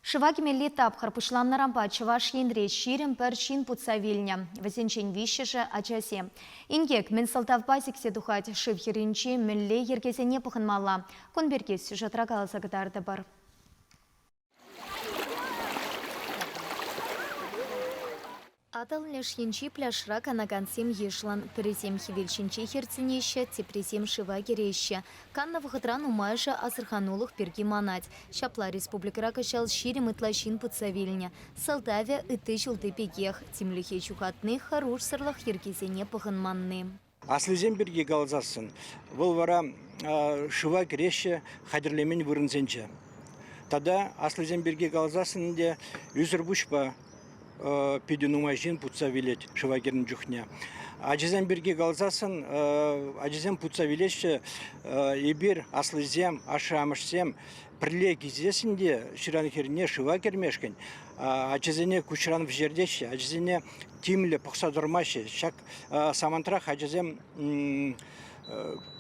Шыва кӗмелли тапхӑр пуҫланнӑранпа Чӑваш Енре ҫирӗм пӗр ҫын путса вилнӗ. Вӗсенчен виҫҫӗшӗ ачасем. Инкек мӗн сӑлтавпа сиксе тухать, шыв хӗрринчи мӗнле йӗркесене пӑхӑнмалла? Кун пирки сюжетра каласа кӑтартӑпӑр. Атӑл леш енчи пляжра канакансем йышлӑн. Пӗрисем хӗвел ҫинче хӗртӗнеҫҫӗ, теприсем шыва кӗреҫҫӗ. Каннӑ вӑхӑтра нумайӑшӗ асӑрханулӑх пирки манать. Ҫапла республикӑра кӑҫал ҫирӗм ытла ҫын путса вилнӗ. Сӑлтавӗ, ытти ҫулти пекех, тимлӗхе ҫухатни, хӑрушсӑрлӑх йӗркисене пӑхӑнманни. Аслисем пирки каласассӑн, вӑл вара шыва кӗреҫҫӗ хатӗрлемен вырӑнсенче. Тата аслисем пирки каласассӑн те ӳсӗр пуҫпа питӗ нумай ҫын путса вилет шыва кӗрнӗ чухне. Ачасем пирки каласассӑн ачасем путса вилеҫҫӗ. Эпир аслисем, ашшӗ-амӑшсем пӗрле килсессӗн те ҫыран хӗрне шыва кӗрмешкӗн ачасене куҫран вӗҫертеҫҫӗ, ачасене тимлӗ пӑхса тӑрмаҫҫӗ. Ҫак Самантрах ачасем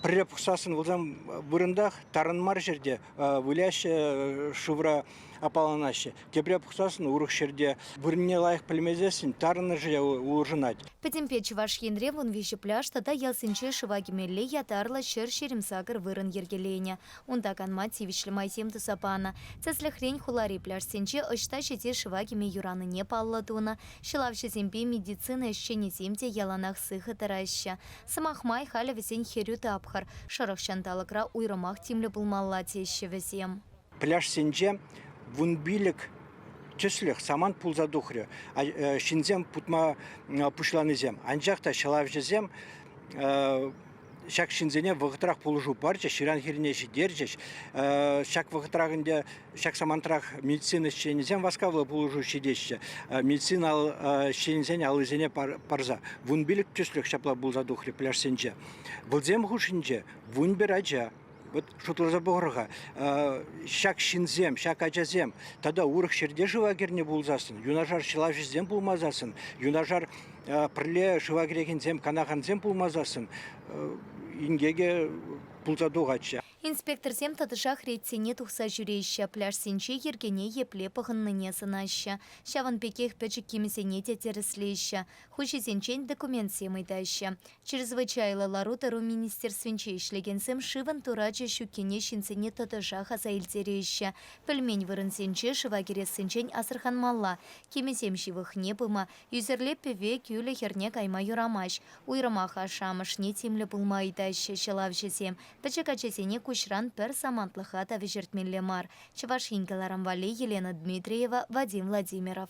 пӗрре пухсассӑн пулсан вырӑнтах тарӑн мар ҫӗрте выляҫҫӗ, шывра аппаланаҫҫӗ. Тепре пухсассӑн урӑх ҫӗрте вырӑнне лайӑх пӗлмесессӗн тарӑнӑшӗ улшӑнать. Пӗтӗмпе Чӑваш Енре вун виҫӗ пляж тата ялсенче шыва кӗмелли ятарлӑ ҫӗр ҫирӗм-сакӑр вырӑн йӗркеленӗ. Унта канма тивӗҫлӗ майсем туса панӑ. Тӗслӗхрен, хулари пляжсенче ӑҫта ҫити шыва кӗме юранине паллӑ тунӑ, ҫӑлавҫӑсемпе медицина ӗҫченӗсем те яланах сыхӑ тӑраҫҫӗ. Сӑмах май, халӗ вӗсен хӗрӳ тапхӑр, шӑрӑх ҫанталӑкра уйрӑмах тимлӗ пулмалла, теҫҫӗ вӗсем. Пляжсенче вун пилӗк тӗслӗх самант пулса тухрӗ, ҫынсем путма пуҫланисем. Анчах та ҫӑлавҫӑсем ҫак ҫынсене вӑхӑтрах пулӑшу парчӗҫ, ҫыран хирне ҫитерчӗҫ. Ҫак вӑхӑтрах ӗнтӗ ҫак самантрах медицина ӗҫченӗсем васкавлӑ пулӑшу ҫитеҫҫӗ. Медицина ӗҫченӗсен аллисене парса вун пилӗк тӗслӗх ҫапла пулса тухрӗ пляжсенче. Вӑлсем хушшинче вун пӗр ача, вот шутласа пӑхӑр-ха, ҫак ҫынсем, ҫак ачасем тата урӑх ҫӗрте шыва кӗрнӗ пулсассӑн, юнашар ҫӑлаҫӑсем пулмасассӑн, юнашар пӗрле шыва кӗрекенсем, канакансем пулмасассӑн инкекӗ пулса тухатчӗ. Инспекторсем тӑтӑшах ретсене тухса ҫӳреҫҫӗ, пляжсенче йӗркене епле пӑхӑннине сӑнаҫҫӗ, ҫавӑн пекех пӗчӗк кимӗсене те тӗрӗслеҫҫӗ, хуҫисенчен документсем ыйтаҫҫӗ. Чрезвычайлӑ лару-тӑру министерствинче ӗҫлекенсем шывӑн турачӗ ҫуккине ҫынсене тӑтӑшах аса илтереҫҫӗ. Пӗлмен вырӑнсенче шыва кӗрессинчен асӑрханмалла, кимӗсем ҫывӑхне пыма, ӳсӗрле пӗве кӳлӗ хӗрне кайма юрамасть. Уйрӑмах ашшӗ-амӑшне тимлӗ пулма ыйтаҫҫӗ ҫӑлавҫӑсем. Пӗчӗк ачасене куҫран пӗр самантлӑха та вӗҫертмелле мар, Чӑваш Ен каларӑм валли Елена Дмитриева, Вадим Владимиров.